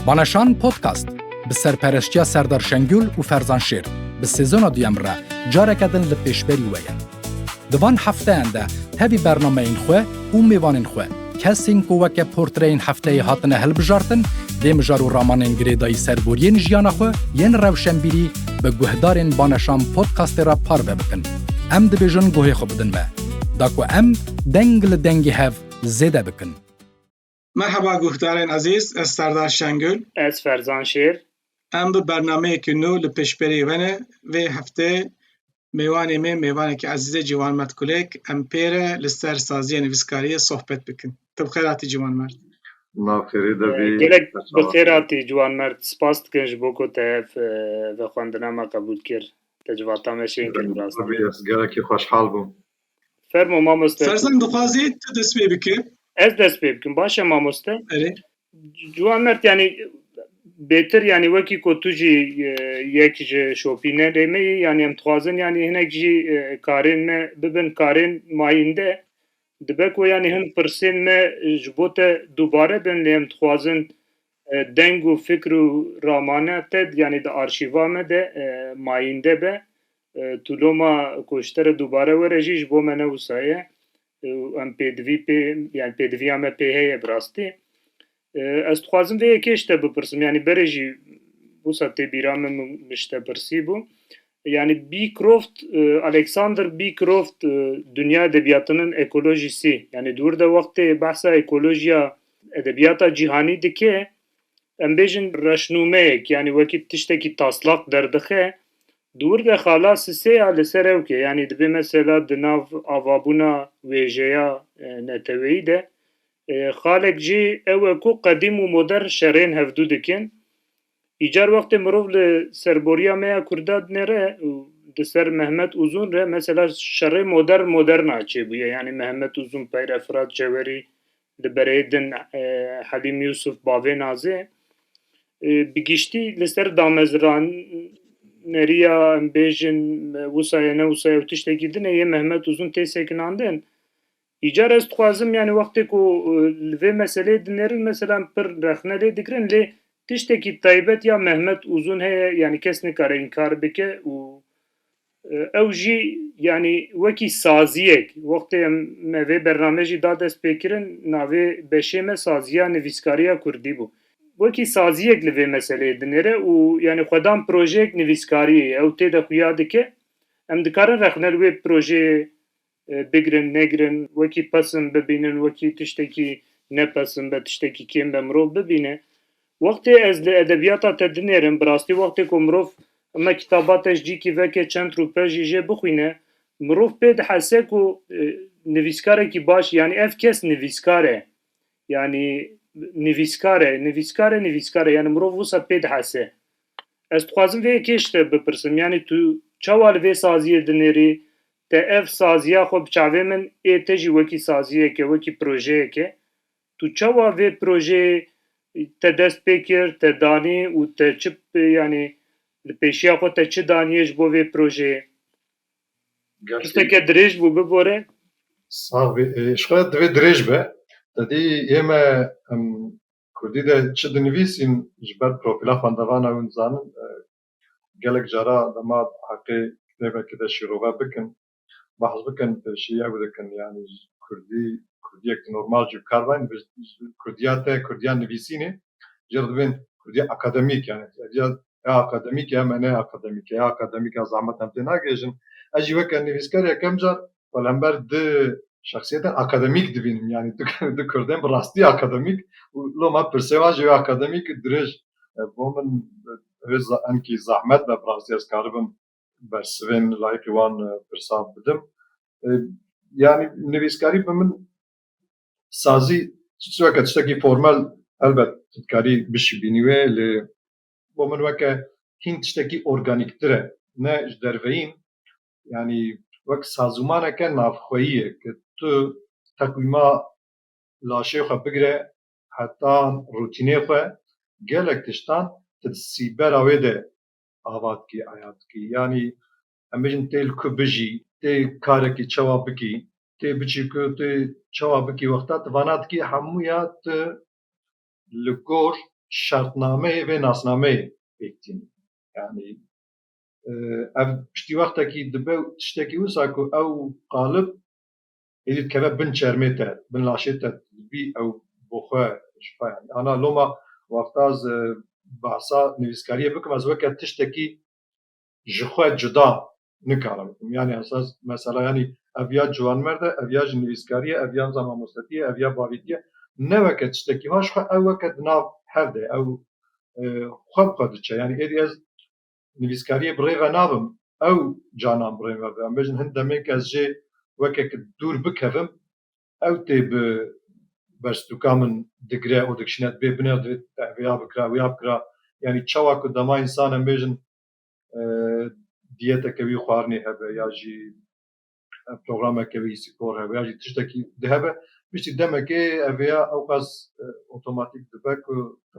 Balaşan Podcast bi serpereştiya Serdar Şengül û Ferzan Şêr bi sezona duyem re careke din li pêşberî we ye. Di van hefteyan de tevî bernameyên xwe û mêvanên xwe kesên ku weke portreyên hefteyê hatine hilbijartin dê mijar û ramanên girêdayî serboriyên jiyana xwe yên rewşenbîrî bi guhdarên Balaşan Podcastê re parve bikin. Em dibêjin guhê xwe bidin me. Da ku em deng li dengê hev zêde bikin. Merheba guhdarên ezîz ez Serdar Şengul. Ez Ferzan Şêr. Em bi bernameyekî nû li pêşberî we ne. Vê heftê mêwanê me mêvanekî ezîzê Ciwan Mert Kulek em pê re li ser sazîya nivîskariyê sohbet bikin. Tu bi xêr hatî Ciwan Mert. Ma xêrê de bî. Gelek bi xêr hatî Ciwan Mert. Spas dikin ji bo ku te ev vexwendina me qebûl kir. Te civata me şên kir bi rastî. Gelekî xweşhal bûm. Fermo mamoste. Ferzan dixwazê tu dest pê bike. Ez dest pê bikim. Baş e mamoste. Erê. Ciwan mert yani bêtir yani wekî ku tu jî e, yek ji şopîne rê me yî yani em dixwazin yani hinek jî e, karên me bibin karên mayînde. Dibe ku yani hin pirsên me ji bo te dubare bin lê em dixwazin e, deng û fikr û ramane te yani di arşîva me de e, mayînde be. Tu loma ku ji te re dubare were jî ji bo me ne wisa ye û em pêdivî pê yani pêdiviya me pê heye bi rastî. Ez dixwazim vê yekê ji te bipirsim yani berê jî wisa tê bîra min min ji te pirsî bû. Yani Beecroft, Alexander Beecroft dunya edebiyatının ekolojisi yani dur de wextê behsa ekolojiya edebiyata cîhanî dike em bêjin reşnûmeyek yani wekî tiştekî taslak derdixe Di wir de xala Sisê ya li ser ewkê, yanî dibê mesela di nav avabûna wêjeya neteweyî de xalek jî ew e ku qedîm û modern şerên hevdû dikin. Îcar wextê mirov li serboriya me ya Kurdatnê re û di ser Mehmet Uzun re mesela şerê modern modern a çêbûye, yanî Mehmet Uzun, Peyre Firat Cewerî, Li berê din Helîm Yûsûf bavê Nazê bi giştî li ser damezraneriya em bêjin wisa ye ne wisa ye û tiştekî din e yê Mehmet Uzun tê sekinandin. Îcar ez dixwazim yanî wextê ku li vê meseleyê dinêrin mesela em pir rexne lê digirin lê tiştekî taybet ya Mehmet Uzun heye yanî kes nikare înkar bike û Ew jî yanî wekî saziyek wextê em me vê bername jî da dest pê kirin navê beşê me saziya nivîskariya kurdî bû. Wekî saziyek li vê meseleyê dinêre û yanî xwedan projeyek nivîskariyê ye. Ew tê de xuya dike em dikarin rexne li wê projeyê bigirin negirin wekî pesin bibînin wekî tiştekî ne pesin be tiştekî kêm be mirov bibîne. Wextê ez li edebiyata te dinêrim bi rastî wextê ku mirov heme kitaba te ji cîkî veke çend rûpe jî jê bixwîne mirov pê dihese ku nivîskarekî baş yanî ev kes nivîskar e yanî nivîskar e nivîskar e nivîskar e yanî mirov wisa pê dihese. Ez dixwazim vê yekê ji te bipirsim yanî tu çawa li vê saziyê dinêrî Te ev saziya xwe bi çavê min ê te jî wekî saziyeke, wekî projeyeke. Tu çawa vê projeyê te dest pê kir, te danî û te çi yanî li pêşiya xwe te çi daniye ji bo vê projeyê? Pirseke dirêj bû bibore. Sax bî. Ji xwe divê dirêj be. Te dî yê me em kurdî de çi dinivîsîn ji ber profîla xwendevana wî dizanin Gelek cara dema heqê kitêbekê de şîrove bikin, behs bikin pêşî ew dikin yanî kurdî kurdîyek normal jî bikar be kurdîya te kurdîya nivîsînê jê re dibên kurdîya akademîk yanî ya akademîk ya me ne akademîk ya akademîk ya zehmet em tê nagihêjin. Ez jî weke nivîsker yekem car Wela hember du şexsiyetên akademîk dibînim yanî du kurdên bi rastî akademîk û lo me pirsê wan ji wê akademîk dirêj e bo min wê enkî zehmet be bi rastî ez karibim bersivên layîqî wan pirsa bidim yanî nivîskarî bi min sazî çi weke tiştekî formel helbet tu dikarî bişîbînî wê lê bo min weke hîn tiştekî organîktir e ne ji derveyîn yanî wek sazûmaneke navxweyî ye ku tu teqwîma laşê xwe bigire heta rûtînê xwe gelek tiştan tu di sîbera wê de ava dikî aya dikî yanî em bêjin tê li ku bijî tê karekî çawa bikî tê biçî ku tê çawa bikî wexta tu vana dikî hemû ya tu li gor şertnameyê vê nasnameyê pêk tînî yanî ev piştî wextekî dibe û tiştekî wisa ku ew qalib êdî dikeve bin çermê te, bin laşê te dibî ew bo xwe ji xwe yanî. Ana loma wexta ez behsa nivîskariyê bikim ez weke tiştekî ji xwe cuda nikarim bikim. Yanî ez ez mesela yanî ev ya ciwanmerd e, ev ya jî nivîskarî ye, ev ya nizam mamostetî ye, ev ya bavîtî ye. Ne weke tiştekî va ji xwe ew weke di nav hev de ye. Ew xwe bi xwe diçe. Yanî êdî ez nivîskariyê bi rê ve nabim, ew canan bi rê me bi. Em bêjin hin demên kes jê wekek dûr bikevim, ew tê bi berstûka min digire û dikişîne dibê binê û divê te vêya bikira wêya bikira. Yanî çawa ku dema însan em bêjin diyeteke wî xwarinê hebe ya jî programeke wî spor hebe ya jî tiştekî dihebe piştî demekê ev ya ew qas otomatîk dibe ku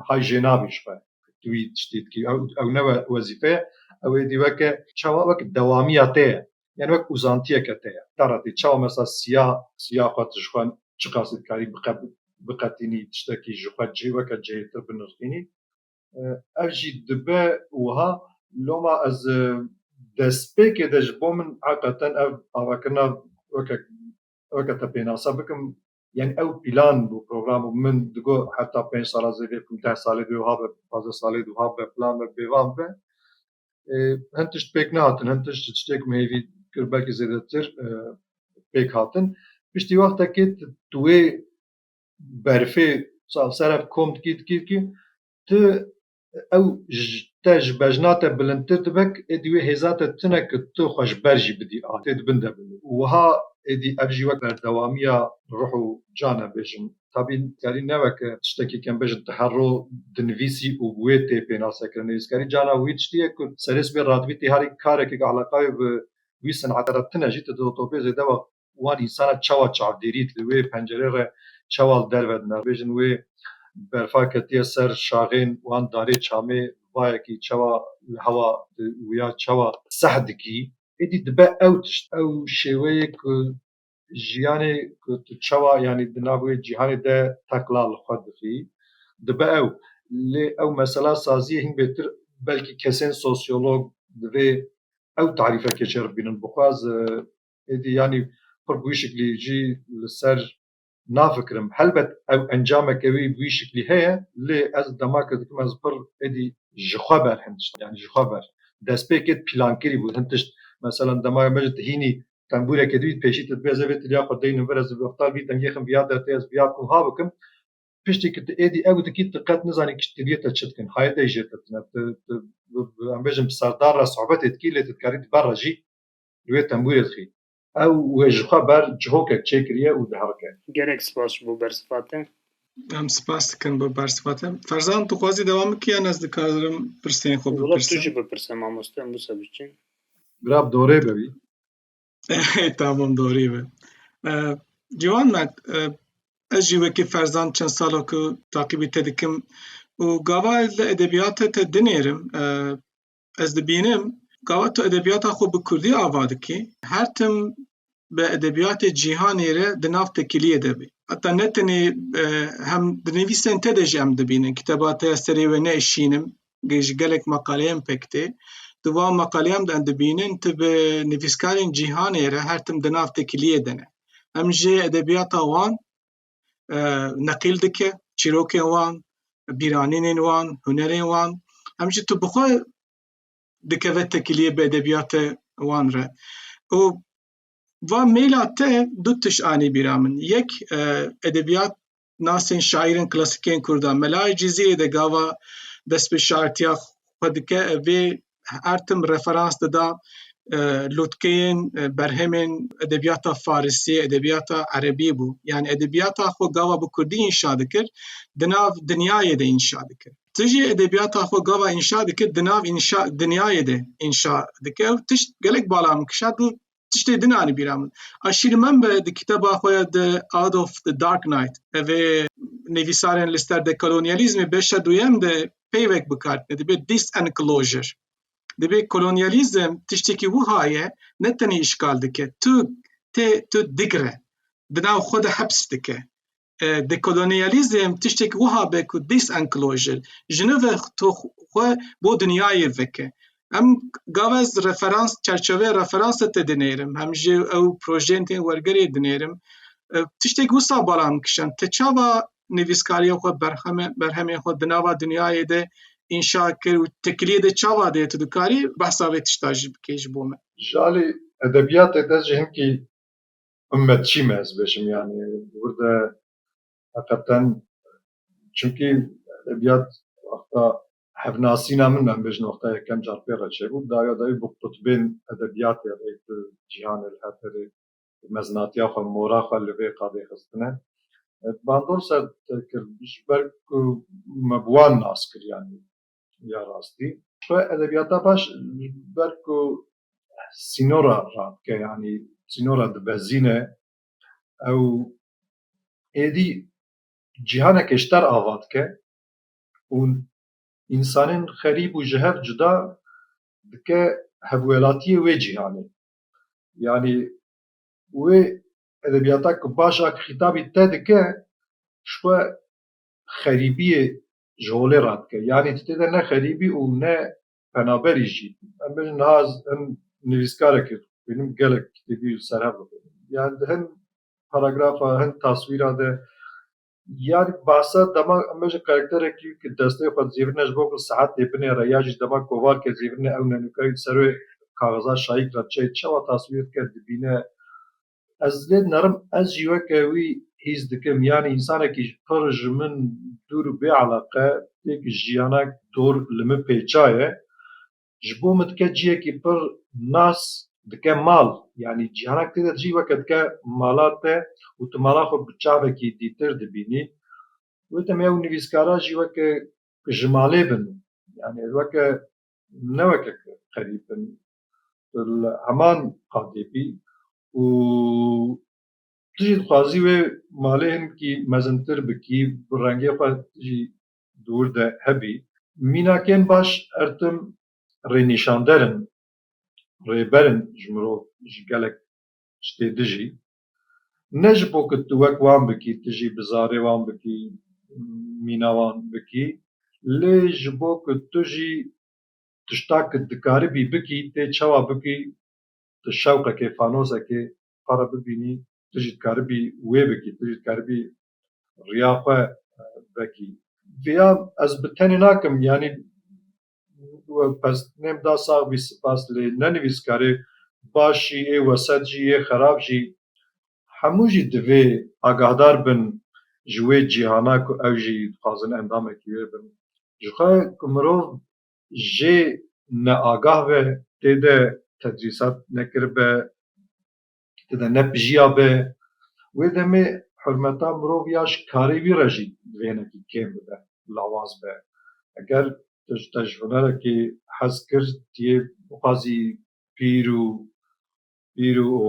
hay jê nabî ji xwe tu wî tiştî dikî ew ne wezîfeye ew êdî weke çawa wek dewamiya te ye yan wek uzantiyeke te ye te re tê çawa mesela siya siya xwe tu ji xwe çiqasî dikarî biqetînî tiştekî ji xwe cihê weke cihêtir binirxînî Ev jî dibe wiha. Loma ez destpêkê de ji bo min heqeten ev avakirina weke weke te pênasa bikim yanî ew pîlan bû program bû min digot heta pênc sala zêdê bikim deh salê dê wiha be pazdeh salê dê wiha be filan be bêvan be. Hin tişt pêk nehatin hin tişt ji tiştê ku min hêvî kir belkî zêdetir pêk hatin. Piştî wextekê tu wê berfê çavsere kom dikî dikî dikî tu ew te ji bejna te bilindtir dibe êdî wê hêza te tune ku tu xwe ji ber jî bidî a tê di bin de bin û wiha êdî ev jî wek berdewamiya ruh û can e bêjim tabî karî ne weke tiştekî kem bêjin tu her roj dinivîsî û bi wê tê pênasekirin nivîskarî cana wî tiştî ye ku serê sibê radibî tê herî karekê ku eleqayê bi wî senete re tune jî tu di otobê zêde wext wan însana çawa çav dêrî li wê pencerê re çawa li derve di navbêjin wê berfa ketiye ser şaxên wan darê çamê bayekî çawa li hewa di wûya çawa seh dikî êdî dibe ew tişt ew şêweyê ku jiyanê ku tu çawa yanî di nav wê cîhanê de teqla li xwe dixî dibe ew lê ew mesela saziyê hîn bêtir belkî kesên sosyolog divê ew tarîfekê şeribînin bixwaz Êdî yanî xwe bi wî şiklî jî li ser nafikirim. Helbet ew encameke wî bi wî şiklî heye lê ez demake dikim ez pir êdî ji xwe ber hin tişt yanî ji xwe ber destpêkê pîlankirî bû hin tişt meselan dema me ji tihînî tembûreke dibît pêşî te dibê ez ê vê tiliya xwe deynim vir ez ê wexta vî dengê xim viya dertê ez viya ku ha bikim piştî ku tu êdî ew dikî tu qet nizanî kişt tiliyê te çi dikin hayê te jê te tune tu em bêjin bi serdar re sohbetê dikî lê tu dikarî di ber re jî li wê tembûrê dixî. Ew wê ji xwe ber cihokek çêkiriye û diherike. Gelek spas ji bo bersiva te. Em spas dikin bo bersiva te. Ferzan tu xwazî dewam bikî yan ez dikarim pirsên xwe bipirsim? Wila tu jî bipirse mamoste em wisa biçin. Birab dorê be wî. Tamam dorê be. Ciwan me ez jî wekî Ferzan çend sala ku taqîbî te dikim û gava ez li edebiyate te dinêrim Ez dibînim gawa tu edebiyata xwe bi Kurdî ava dikî, her tim bi edebiyatê cîhanê re di nav tekiliyê de bî. Heta ne tenê e, hem di nivîsên te de jî em dibînin. Kiteba te ya serê wê ne şînim, ji gelek meqaleyên pek tê. Di wan meqaleyan de em dibînin tu bi nivîskarên cîhanê re her tim di nav tekiliyê de ne. Em jê edebiyata wan neqîl dike çîrokên wan, bîranînên wan, hunerên wan. Em jî tu bi xwe dikeve tekîliyê bi edebiyatê wan re. Û va mêla te du tişt anî bîra min. Yek edebiyat nasên şaîrên klasikên Kurd a. Mela Cîzîrê de gava dest bi şaîrtiya xwe dike vê her tim referans dida lotkeyên berhemên edebiyata Farisî, edebiyata Erebî bû. Yani edebiyata xwe gava bi Kurdî înşa dikir, di nav dinyayê de înşa dikir. Ti jî edebiyata xwe gava înşa dikir, di nav înşa dinyayê de înşa dikir. Ew tişt gelek bala min kişand û tiştê din anî bîra min. A şîrmen be di kiteba xwe ya The Out of the Dark Night evê nivîsarên li ser dekolonyalîzmê beşa duyem de peyvek bikar tine dibê disenclosure. Dibê kolonyalîzm tiştekî wiha ye ne tenê îşgal dike tu tê tu digre di nav xwe de heps dike. Dekolonyalizm tiştek wiha be ku disenclosure jinove to xwe bo dinyayê veke. Em gava ez referans çerçevê referansa te dinêrim hem jî ew projeyên tên wergerê dinêrim. Tiştek wisa bala min kişand te çawa nivîskariya xwe berheme berhemê xwe di nava dinyayê de înşa kir û tekiliyê de çawa de tu dikarî behsa vê tişta jî bikê ji bo min. Ji alî edebiyatê de jî hinkî Himmet çî me ez bêjim yani burada heqeten çünkî edebiyat wexta hevnasîna min em bêjin wexta yekem car pê re çêbû daya dayî bi qutbên edebiyatê re di cîhanê li her derê meznatiya xwe mora xwe li vê qadê xistine. Bandor ser te kir ji ber ku me bi wan nas kir yani ya rastî. Xwe edebiyata baş ji ber ku sînora radike yanî sînora dibezîne ew êdî cîhaneke ji der ava dike û însanên xerîb û ji hev cuda dike hevwelatiyê wê cîhanê. Yanî wê edebiyata ku baş a xîtabî te dike ji xwe xerîbiyê ji holê radike. Yanî tu tê de ne xerîbî û ne penaberî jî. Em bêjin niha ez hin nivîskarek e dixwînim gelek kitêbî serhev bixwînim. Yan di hin paragrafa hin taswîra de yan behsa dema em bêjin karakterekî ku destê xwe dizêvirine ji bo ku sihet tê binêre ya jî dema kovar ke dizêvirine ew nenûkayî di serê kaxiza şayîk re çê çawa taswîr dike dibîne Ez lê dinerim ez jî weke wî hîs dikim yanî însanekî ji pir ji min dûr û bê eleqe têk jiyanek dor li min pêça ye ji bo min dike ciyekî pir nas dike mal yanî jiyanek tê de dijî weke dike mala te û tu mala xwe bi çavekî dîtir dibînî wê demê ew nivîskara jî weke ji malê bin yanî weke ne weke qerîb bin li heman qadê bî û tu jî dixwazî wê malê hinkî mezintir bikî, bi rengê xwe tu jî di wir de hebî. Mînakên baş her tim rênîşander in, rêber in ji mirov, ji gelek ştê dijî. Ne ji bo ku tu wek wan bikî, tu jî bi zarê wan bikî, mîna wan bikî, lê ji bo ku tu jî tişta ku dikaribî bikî tê çawa bikî tu şewqekê fanosekê xwe re bibînî tu jî dikaribî wê bikî tu jî dikaribî riya xwe vekî. Viya ez bi tenê nakim yanî pestnêm da sax bî sipas lê ne nivîskarê baş jî ê weset jî ê xerab jî hemû jî divê agahdar bin ji wê cîhana ku ew jî dixwazin endamekî wê bin jixwe ku mirov jê neagah be, tê de tedrîsat nekiribe, tê de nepijiyabe, wê demê hurmeta mirov ya ji karê wî re jî bi vênekî kêm bibe, lawaz be. Eger tu ji te ji hunerekê hez kir, tu yê bixwazî pîr û Pîr û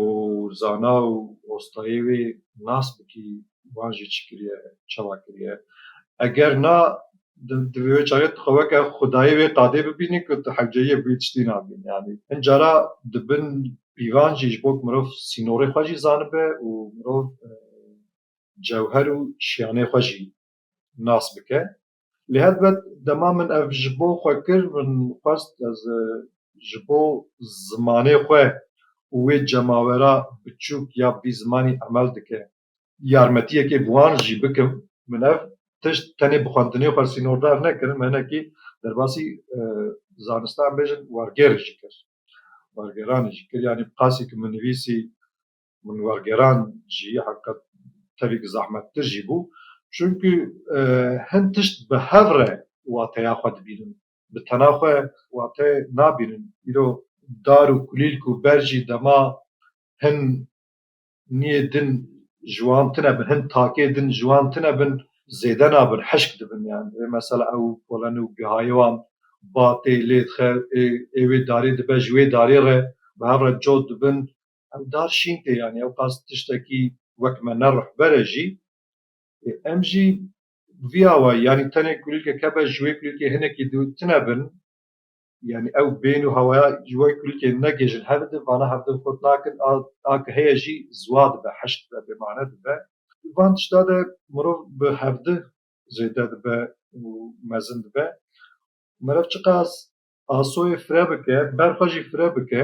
zana û ostayê wê nas bikî wan jî çi kiriye, çawa kiriye. Eger na, divê wê çaxê tu xwe weke xwedayê wê qadê bibînî ku tu hewceyiyê bûyî tiştî nabînî. Yanî hin cara di bin pîvan jî ji bo ku mirov sînorê xwe jî zanibe û mirov cewher û şiyanê xwe jî nas bike. Lê helbet dema min ev ji bo xwe kir min xwest ez ji bo zimanê xwe û wê cemawera biçûk ya bî zimanî emel dike yarmetiyekê bi wan jî bikim. Min ev tişt tenê bi xwendinê xwe sînordar nekir me hinekî derbasî zanistean bêjin wergêrê jî kir wergêranê jî kir yanî qasî ku min nivîsî minewergeran jî heqîqet tevî zehmettir jî bû. Çimkî hin tişt bi hev re wateya xwe dibînin. Bi tena xwe wate nabînin. Îro dar û kulîlk û ber jî dema hin niyê din ji wan tune bin, hin takê din ji wan tune bin zêde nabin, hişk dibin. Yan rê mesela ew polen û gihayê wan batê lê dixe ê wê darê dibe ji wê darê re bi hev re cot dibin Em dar şîn tê yanî ew qas tiştekî wek me ne rihber e jî. Em jî vî awayî yanî tenê kulîlkek hebe ji wê kulîlkê hinekî dûr tune bin. Yanî ew bên û hewaya ji wê kulîlkê negihîjin hev di vana hev din xurt nakin a a ke heye jî ziwa dibe heş dibe bêmane dibe. Di van tişta de mirov bi hev di zêde dibe û mezin dibe. Meriv çiqas asoyê fire bike ber xwe jî fire bike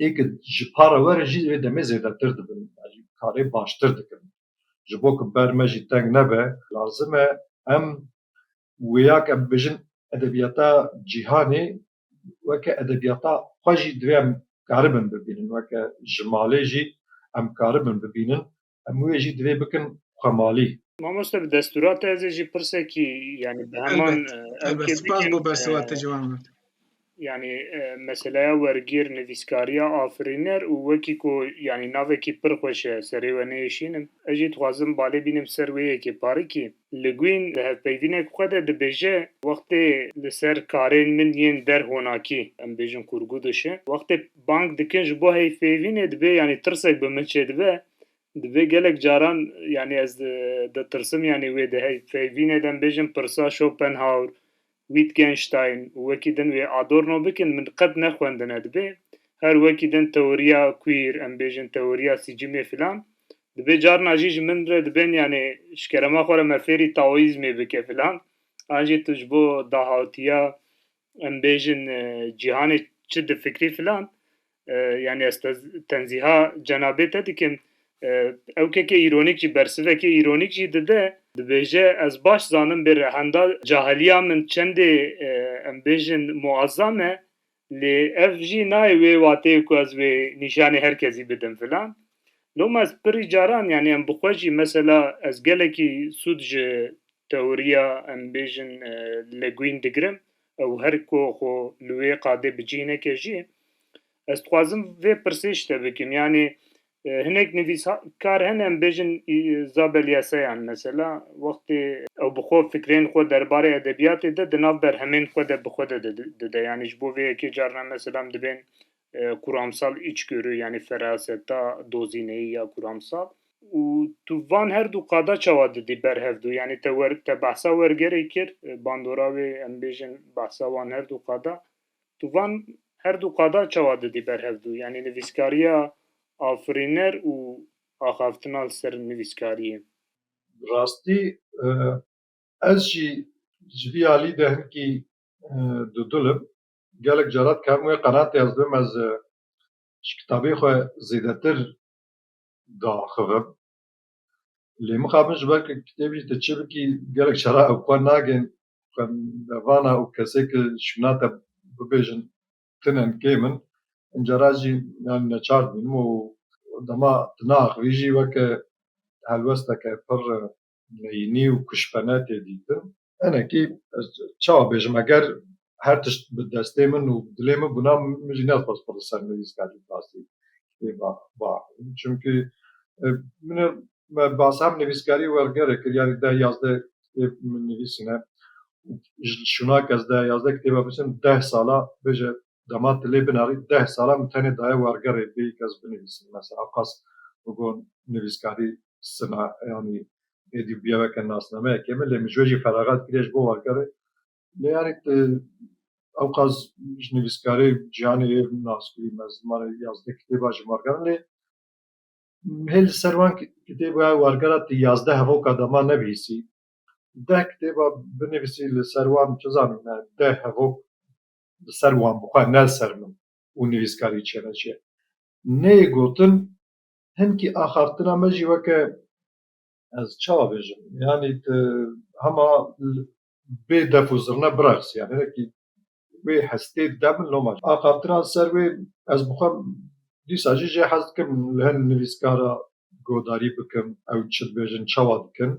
ê ku ji para we re jî wê demê zêdetir dibin alî karê baştir dikin. Ji bo ku ber me jî teng nebe lazim e em wêya ke em dibêjin edebiyata cîhanê weke edebiyata xwe jî divê em karibin bibînin weke ji malê jî em karibin bibînin hemû yê jî divê bikin xwe malî. Mamoste bi destûra te ez ê jî pirsekî yanî bi heman spas bo berseva te ciwan be. Yani meseleya wergir nivîskariya afirîner û wekî ku yanî navekî pir xweş e serê we nêişînim. Ez jî dixwazim balê bînim ser wê yekê parikî. Le Guin di hevpeydînek xwe de dibêje, Wextê li ser karên min yên der honakî, em bêjin kurguduşe, wextê bang dikin ji bo heyfêvînê dibê yanî tirsek bi min çêdibe, dibê gelek caran yanî ez ditirsim yanî wê di heyfêvînê de em bêjin pirsa Schopenhauer Wittgenstein û wekî din wê Adorno bikin min qet nexwendine dibê her wekî din teoriya queer em bêjin teoriya sicimê filan dibê carna jî ji min re dibên yanê ji kerema xwe re me fêrî taoîzmê bike filan an jî tu ji bo dahatiya em bêjin cîhanê çi difikirî filan Yani ez tenziha cenabê te dikim. Ew keke îronîk jî bersivekê îronîk jî dide. Dibêje ez baş zanim bê rehenda cahiliya min çendê em bêjin muazzam e. Lê ev jî nayê wê wateyê ku ez wê nîşanê her kesî bidim filan. Loma ez pirî caran yani em bi xwe jî mesela ez gelekî sûd ji tewriya em bêjin legwîn digirim. Ew her ku xwe li wê qadê bi cih neke jî, ez dixwazim vê pirsê ji te bikim, yanî hinek nivîskar hene em bêjin Zabel Yasayan mesela wextê, ew bi xwe fikrên xwe derbarê edebiyatê de di nav berhemên xwe de bi xwe de dide, yanî ji bo vê yekê carna mesela em dibên Kuramsal içgörü yanî feraseta dozîneyî ya kuramsal û tu van her du qada çawa didî ber hev du yanî te wer te behsa wergerê kir bandora wê em bêjin behsa wan her du qada tu van her du qada çawa didî ber hev du yanî nivîskariya afirîner û axaftina li ser nivîskariyê? Bi rastî ez jî ji vî alî de hinkî dudil im Gelek caran dikevim wê qeratê ez dibim ez ji kitabê xwe zêdetir diaxivim. Lê mixabin min ji ber ku kitêb jî tu çi bikî gelek caran ew xwe nagihn xwe nevana û kesê ku şûna te bibêjin tune in kêm in. Hin caran jî yanî neçar dibînim û dema tu naaxivî jî weke helwesteke pir meyînî û kuşbene tê dîtin. Hinekî ez çawa bêjim eger her tişt bi destê min û dilê min bûna min jî nedixwest xwe li ser nivîskerdin tasî kitêba biaxivim. Çimkî min e me behsa hem nivîskarî wergerê kir yanî deh yazdeh kitêb min nivîsîne û ji şûna kes deh yazdeh kitêba binivîsim deh sala bêje Dema tu lê binarî deh sala min tenê daye wergerê bêyî kes binivîsim. Mesela qas bigon nivîskarî sima yanî êdî bûye weke nasnameyekê min lê min ji wê jî feraxat kiriye ji bo wergerê. Lê yanî tu ewqas ji nivîskarê Cîhanê yê binaskurî me zimanê yazdeh kitêba ji werger lê hê li ser wan kitêba wergera tu yazdeh hevoka dema nebihîsî deh kitêba binivîsî li ser wan çi zanim me deh hevok bi ser wan bi xwe ne ser min û nivîskarî çêneçê. Nê gotin hinkî axaftina me jî weke ez çawa bêjim yanî tu hema bê def û zirne bireqs yanî hinekî wê hestê dide min loma axaftinan ser wê ez bi xwe dîsa jî jê hez dikim li hin nivîskara godarî bikim ew çi dibêjin çawa dikin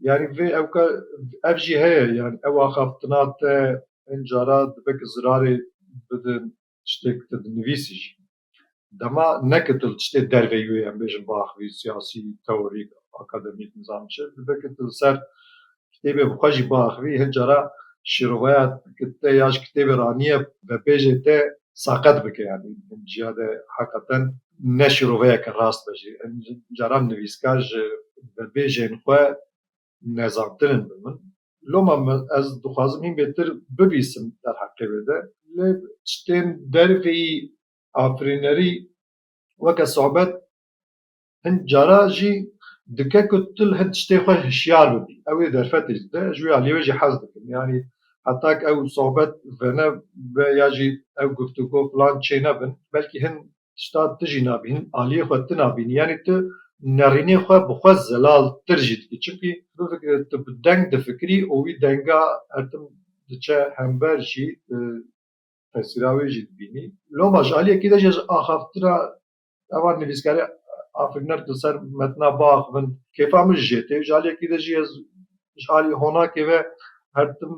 Yani vê ew ka ev jî heye yani ew axaftina te hin cara dibe ki zirarê bidin tiştêk te dinivîsî jî. Dema ne ki tu li tiştê derve yû yê em bêjin bi axivî siyasî, teorîk, akademîk nizam çi dibe ki tu li ser kitêbê bi xwe jî biaxivî hin cara şîrovaya te ya ji kitêbê ra niye vepêjê te saqet bike yanî ciya de heqeten ne şîroveyeke rast be jî caran nivîskar ji vebêjên xwe nezantir in bi min loma ez dixwazim hîn bêtir bivîsim derheqê wê de lê tiştên derveyî afirînerî weke sobet Hin cara jî dike ku tu li hin tiştê xwe hişyar bibî. Ew ê derfetê ji te, ji wê aliyê wê jî hez dikin. Yanî heta ku ew sohbet vene be ya jî ew guftûgo filan çê nebin, belkî hin tişta tu jî nabî, hin aliyê xwe tu nabînî. Yanî tu nerînê xwe bi xwe zelaltir jî dikî. Çimkî bifikire tu bi deng difikirî û wî denga her tim diçe hember jî, tu tesîra wê jî dibînî. Loma ji aliyekî de jî ez axaftina Eva nivîskarê Afirîner li ser metna Bax bin kêfa min jijê tê. Ji aliyekî de jî ez ji alî honakê ve her tim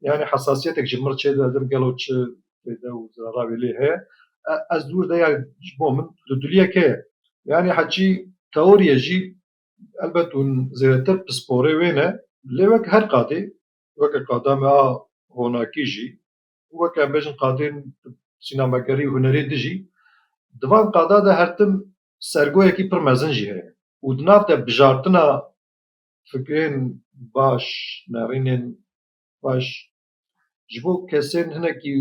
yanî hesasiyetek ji mir çêde didim gelo çi fêde û zerera wê lê heye. Ez dûr de yanî ji bo min li duliyek heye. Yanî heçî teoriye jî elbet hûn zêdetir pisporê wê ne lê wek her qadê weke qada me a honakî jî Weke em bêjin qadên sînemegerî û hunerê din jî di van qada de her tim sergoyekî pir mezin jî heye û di nav de bijartina fikrên baş, nerînên xweş ji bo kesên hinekî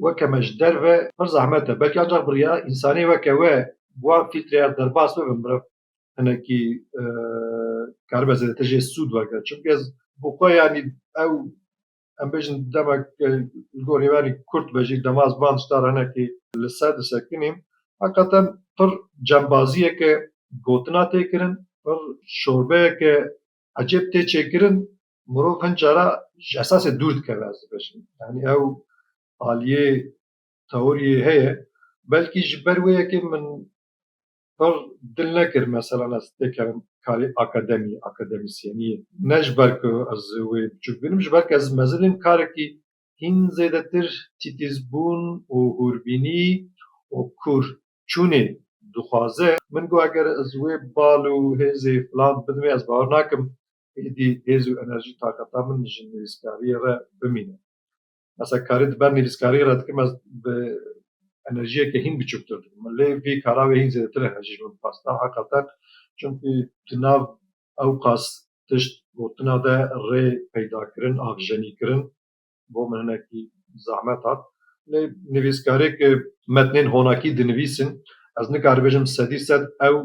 weke me ji derve pir zehmet e. Belkî ancax bi riya însanê weke we bi wan fîltreyar derbas bibe meriv hinekî karibe zêdetir jê sûd wergire. Çimkî ez bo xwe yanî ew em bêjin demek li gorî me kurt be jî dema ez bang star hinekî li ser disekinîm heqeten pir cembaziyeke gotina tê kirin pir şorbeyeke ecêb tê çêkirin mirov hin cara ji esasê dûr dikeve ez dibêjim yanî ew aliyê tewiriyê heye belkî ji ber wê yekê min Her dil nekir meselan ez tê kerim karê akademî, akademisyeniyê. Ne ji ber ku ez wê biçûk bînim ji ber ku ez mezin im karekî hîn zêdetir tîtîzbûn û hûrbînî û kûr çûnê dixwaze. Min got eger ez wê bal û hêzê filan bidimê ez bawer nakim êdî hêz û enerjî taqeta min ji nivîskariyê re bimîne. Mesela karî di ber nivîskariyê re dikim ez bi enerjiyeke hîn biçûktir dikim. Lê vî kara wê hîn zêdetir e ji min bixwestin heqeqet. Çimkî di nav ewqas tişt gotina de rê peydakirin, avjenîkirin bo min hinekî zehmet hat. Lê nivîskareke metnên honakî dinivîsin ez nikaribêjim sedî sed ew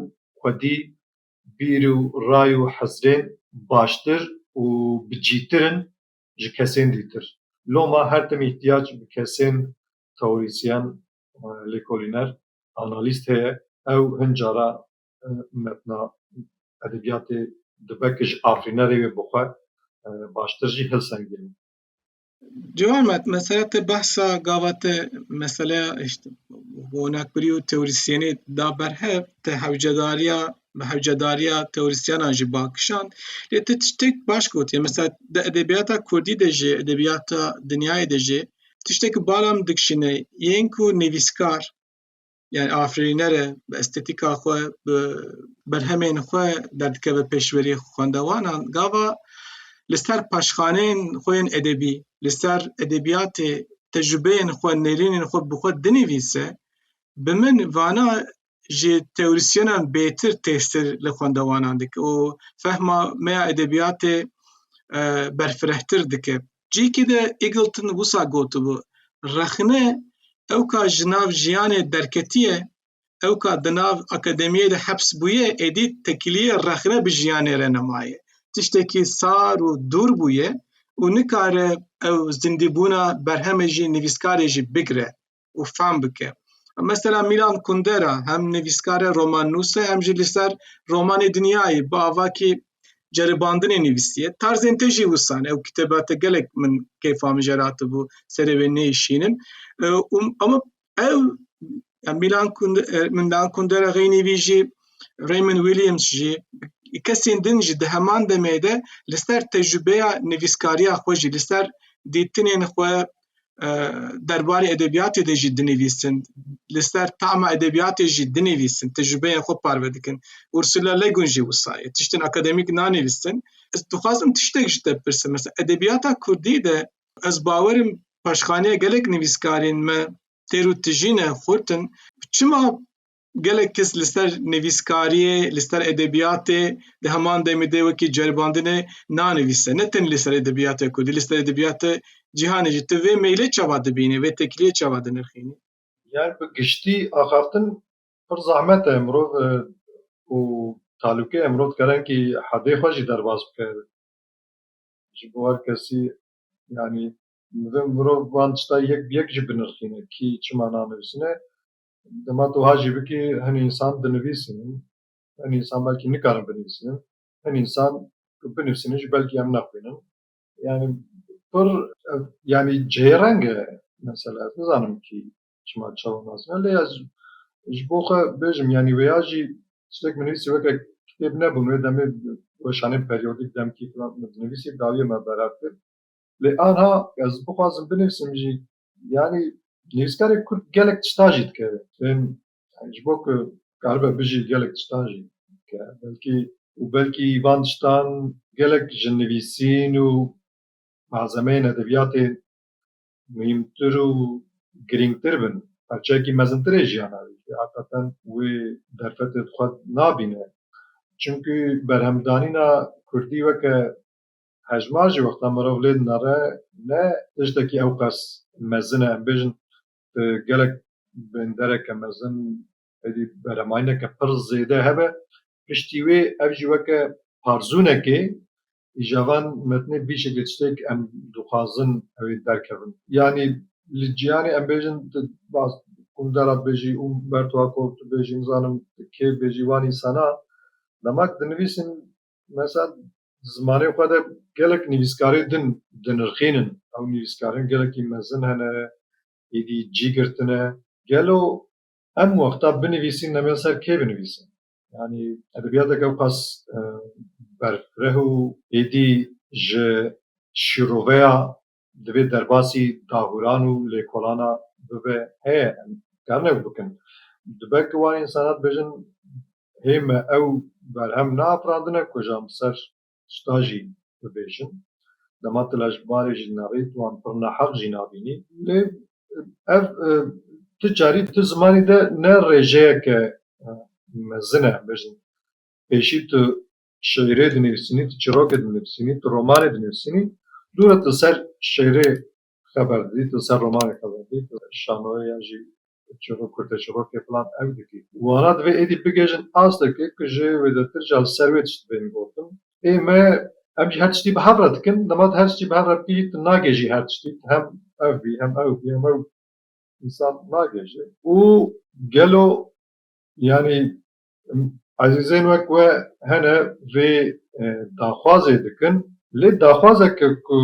xwedî bîr û ray û hizrên baştir û bi cîtir in ji kesên dîtir. Loma her tim îhtiyac bi kesên teorîsyen, lêkolîner, analîst heye. Ew hin cara metna edebiyatê dibe ku ji afrînerê wê bi xwe baştir jî hilsengînin. Cihar met, mesele te behsa gava te meseleya hişt, gonakbirî û teorîsyenê da ber hev, te hewcedariya bi hewcedariya teorîsyenan jî bang kişand. Lê tu tiştek baş gotiye. Mesela di edebiyata Kurdî de jî, edebiyata dinyayê de jî tiştekî bala min dikişîne yên ku nivîskar yani afirînere bi estetîka xwe bi berhemên xwe derdikeve pêşverî xwendewanan gava li ser paşxaneyên xwe yên edebî li ser edebiyatê tecrübeyên xwe nêrînên xwe bi xwe dinivîse bi min vana ji teorîsyenan bêtir têstir li xwendewanan dike û fehma me ya edebiyatê e, berfirehtir dike. Cihekî de Eagleton wisa gotibû, rexne ew ka ji nav jiyanê derketiye, ew ka di nav akademiyê de heps bûye, êdî tekiliyê rexne bi jiyanê re nemaye. Tiştekî sar û dûr bûye û nikare ew zindîbûna berhemê jî nivîskarê jî bigire. û fam bike. Mesela Milan Kundera hem nivîskare roman nûse hem jî li ser romanê dinyayê bi avakî ceribandinê nivîsiye. Tarzên te jî wisan ew kitêba te gelek min kêfa min jê ratibû serê wê nêişînim. Ama ew Milan Milan Kundera xeynî vî jî Raymond Williams jî kesên din jî di heman demê de li ser tecrübeya nivîskariya xwe jî li ser dîtinên xwe derbarê edebiyatê de jî dinivîsin li ser tama edebiyatê jî dinivîsin tecrübeyên xwe parve dikin Ursula Le Guin jî wisa ye tiştên akademîk nanivîsin ez dixwazim tiştek ji te bipirsim mesela edebiyata kurdî de ez bawerim paşxaniya gelek nivîskarên me têr û tijîne xurt in çima Gelek kes li ser nivîskariyê, li ser edebiyatê di heman demê de wekî ceribandine nanivîse. Ne tenê li ser edebiyata kurdî, li ser edebiyata cîhanê jî. Tu vê meylê çawa dibînî, vê tekliyê çawa dinirxînî? Yani bi giştî axaftin pir zehmet e. Mirov û talûkeye. Mirov dikare hinkî hedê xwe jî derbas bike ji bo her kesî. Yani mirov van tişta yek bi yek jî binirxîne. Kî çima nanivîsîne Dema tu wiha jî bikî hin însan dinivîsîn û hin însan belkî nikarin binivîsînin. Hin însan ku binivîsînin jî belkî em nexwînin. Yanî pir ev yanî cihêreng e mesela. Ez nizanim kî çima çawa nasîne lê ez ji bo xwe bêjim yanî wêya jî tiştek binivîsî weke kitêb nebûn. Wê demê weşanên peryodîk demkî filan dinivîsî dawiyê me berev kir. Lê aniha ez bixwazim binivîsim jî Yanî nivîskarê kurd gelek tiştan jî dike fêm ji bo ku karibe bijî gelek tiştan jî dike belkî û belkî van tiştan gelek ji nivîsîn û malzemeyên edebiyatê muhîmtir û girîngtir bin parçeyekî mezintir ê jiyana wî jî heqeqeten wê derfetê xwe nabîne çimkî berhemdanîna kurdî weke Hejmar jî wexta mirov lê dinare ne tiştekî ewqas mezin e, em bêjin gelek bêndereke mezin êdî beremayîneke pir zêde hebe. Piştî wê ev jî weke parzûnekê îja van metnê bî şeklê tiştêk em dixwazin ew ê derkevin. Yanî li cîhanê em bêjin tu baz Kundera dibêjî û Bertwako dibêjî nizanim kê dibêjî wan însana dema ku dinivîsîn mesela Zimanê xwe de gelek nivîskarê din dinirxînin. Ew nivîskarin gelekî mezin hene, êdî cî girtine. Gelo em wexta binivîsîn neme ser kê binivîsîn? Yanî edebiyateke ewqas berfireh û êdî ji şîroveya divê derbasî dahûran û lêkolana bibe heye em dikarin ew bikin. Dibe ku wan însanan dibêjin hê me ew berhem neafirandine ku ji em ser tişta jî bibêjin. Dema tu lej bi barê jî dinerî tu wan pir neheq jî nabînî. Lê ev ti carî di ti zimanî de ne rêjeyeke mezin e em bêjin pêşî tu şîîrê dinivîsînî, tu çîrokê dinivîsînî, tu romanê dinivîsînî, dûre tu li ser şîîrê xeber didî, tu li ser romanê xeber didî, tu şanoyê ya jî çîrok kurteçîrokê filan ew dikî. Wana divê êdî bigihîjin astekê ku ji wêdetir jî li ser wê tişt bên gotin. Ê me em jî her tiştî bi hev re dikin, dema tu her tiştî bi hev re bikî jî tu nagihîjî her tiştî, tu hem ev bî, hem ew bî, hem ew însan nagihîjî û gelo yanî Ezîzên wek we hene vê daxwazê dikin lê daxwazeke ku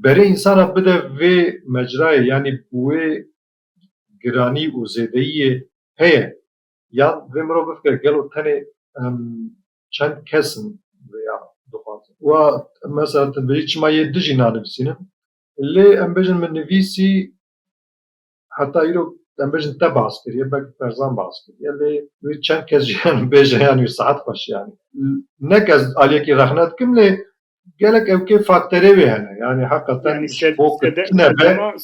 berê însana bide vê mecrayê yanî bi wê giranî û zêdeyiyê heye yan vê mirov bifkire gelo tenê em çend kes in vêya dixwazin wa mesela tu birî çima yê dijî nanivîsînin lê em bêjin min nivîsî heta îro em bêjin te baz kiriye belkî Ferzan baz kiriye lê wê çend kes jî yanî bêje yanî saet xweş yanî ne kes aliyekî rexne dikim lê gelek ew kê fakterê wê hene yanî heqeten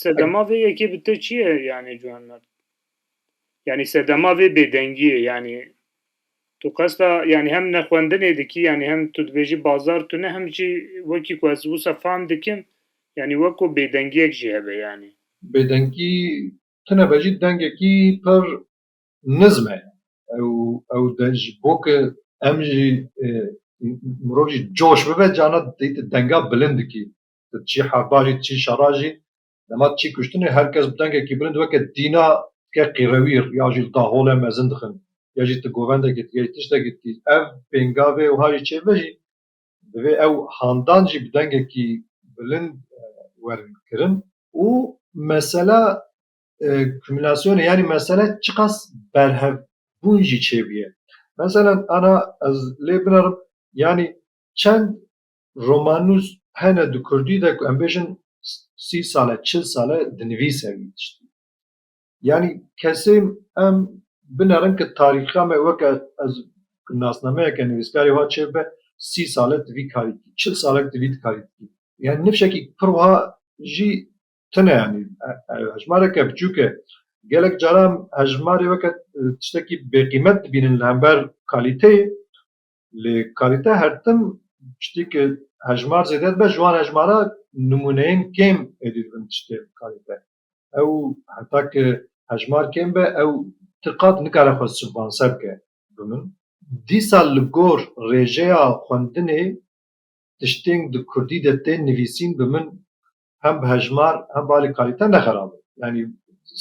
sedema vê yekê bi te çi ye yanî ciwan me yanî sedema vê bêdengiyê yanî Tu qesta yanî hem nexwendinê dikî yanî hem tu dibêjî bazar tune hem jî wekî ku ez wisa fam dikim yanî weko bêdengiyek jî hebe yanî. Bêdengî tune be jî dengekî pir nizm e ew ew deng ji bo ke em jî mirov jî coş bibe carna dêyî tu denga bilind dikî tu çî herba jî tu çî şera jî Dema tu çî kuştinê her kes bi dengekî bilind weke dîna dike qîrewîr ya jî li daxole mezin dixin ya jî tu govendekî dî ya jî tiştekî dî ev pêngavê wiha jî çêbibe jî divê ew handan jî bi dengekî bilind werin kirin. Û mesela kumulasyonê yanî mesele çiqas berhevbûn jî çêbûye. Meselen ana ez lê binerim yanî çend Romanûs hene di kurdî de ku em bêjin sî sal e, çil sal e dinivîse wî tiştî. Yanî kesê em binerin ku tarîxa me weke ez nasnameyeke nivîskarê wiha çê bibe sî sal e tu vî karî dikî, çil sal e tu vî karî dikî. Yanî nifşekî pir wiha jî tune yanî hejmareke biçûk e. Gelek caran hejmarê weke tiştekî bêqîmet dibînin li hember kalîteyê Lê kalîte her tim tiştî ki hejmar zêde dibe ji wan hejmara nimûneyên kêm êdî dibin tiştê bi kalîte. Ew heta ki hejmar kêm be ew ti qat nikare xwe sponser bike bi min. Dîsa li gor rêjeya xwendinê tiştên di kurdî de tên nivîsîn bi min hem bi hejmar hem bi alî kalîte ne xerab in. Yanî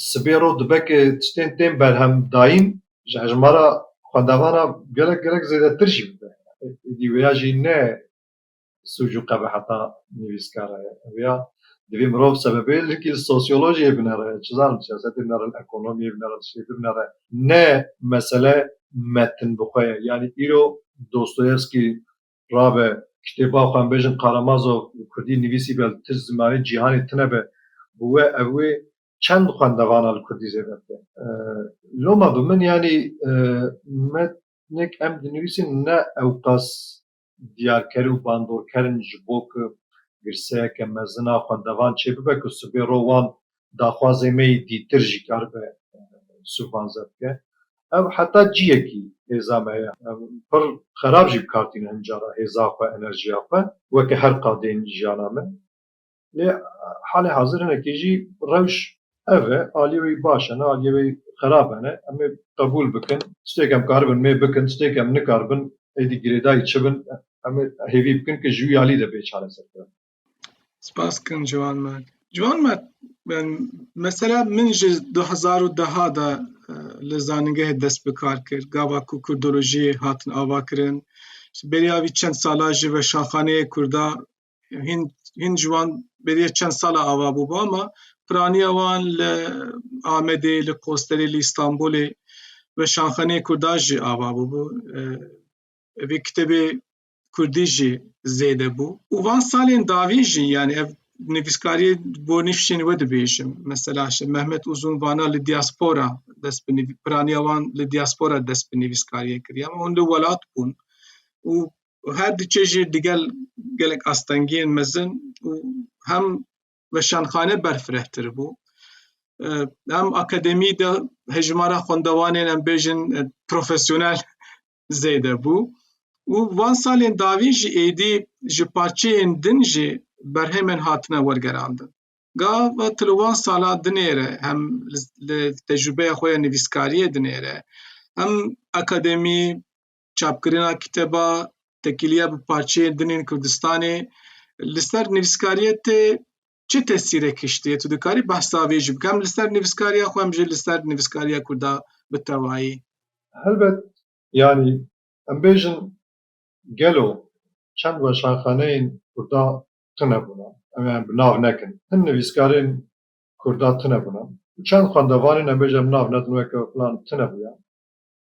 sibê ro dibe ke tiştên tên berhemdayîn ji hejmara xwendevan a gelek gelek zêdetir jî bibe. Êdî wêya jî ne sûc û qebeheta nivîskara ye. Wêya divê mirov sebebê likî li sosyolojiyê binere, çi zanim siyasetê binere, li ekonomiyê binere, li şêtir binere. Ne mesele metin bi xwe ye. Yanî îro Dostoyevskî rabe. Tiştê bax em bêjin Karamazov bi kurdî nivîsîbe li tişt zimanê cîhanê tune be bi we ev wê çend xwendevana li kurdî zêde bike. Loma bi min yanî metnek em dinivîsin ne ewqas diyarker û bandorker in ji bo ku girseyeke mezin a xwendevan çêbibe ku sibê ro wan daxwazê me yê dîtir jî karibe sûvanze bike. Ev heta ciyekî hêza me ye. Em pir xerab jî bi kar tîne hin caran hêza xwe, enerjiya xwe weke her qadeyên jiyana me. Lê halê hazir hinekî jî rewş ev e. Aliyê wê baş e ne aliyê wê xerab e ne. Em ê qebûl bikin. Tiştêk em karibin mê bikin, tiştêk em nikaribin êdî girêdayî çi bin em ê hêvî bikin ku ji wî alî de bê çareserkirin. Spas kin Ciwan me. Ciwan me mesela min ji du hezar û deha de li zanîngehê dest bi kar kir. Gava ku kurdolojiyê hatin avakirin, ji bêriya vî çend sala ji weşanxaneyê kurda hîn hîn ciwan bêriya çend sala ava bûba ma piraniya wan li Amedê, li Qosterê, li Îstanbulê weşanxaneyê kurda jî ava bûbû. Vê kitêbê Kurdî jî zêde bû û van salên dawî jî yanî ev nivîskariyê bo nîvşên we dibêjim. Mesela şe Mehmet Uzun vana li diaspora dest bi nivî piraniya wan li diaspora dest bi nivîskariyê kiriye ama hûn li welat bûn û her diçe jî digel gelek astengiyên mezin û hem weşanxane berfirehtir bû. Em akademî de hejmara xwendewanên em bêjin profesyonel zêde bû û van salên dawî jî êdî ji parçeyên din jî berhemên hatine wergerandin. Gav e tu li wan salan dinêre hem li tecrûbeya xwe ya nivîskariyê dinêre hem akademî, çapkirina kiteba, tekîliya bi parçeyên din ên Kurdistanê li ser nivîskariyê tê çi tesîrek hiştiye tu dikarî behsa vê jî bikem li ser nivîskariya xwe em jî li ser nivîskariya kurda bi tewayî helbet yanî em bêjin gelo çend weşanxaneyên kurda tune bûne em ê em bi nav nekin hin nivîskarên kurda tune bûne û çend xwendevanên em bêjin em nav nedin weke filan tune bûye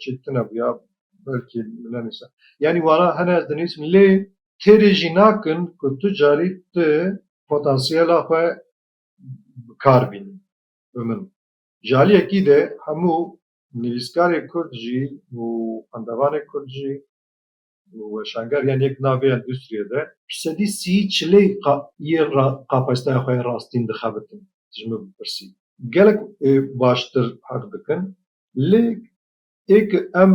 çi tune bûya belkî nenîsa. Yanî wana hene ez dinîsim lê têrê jî nakin ku tu carî tu potansiyela xwe bi kar bînî bi min. Ji aliyekî de hemû nivîskarê kurd jî û xwendevanê kurd jî Weşanger yan yek navê ya endustriyê de. Sedî sî çilê yê qafestaya xwe yê rastîn dixebitin. Tu ji min bipirsî gelek baştir heq dikin. Lê ê ki em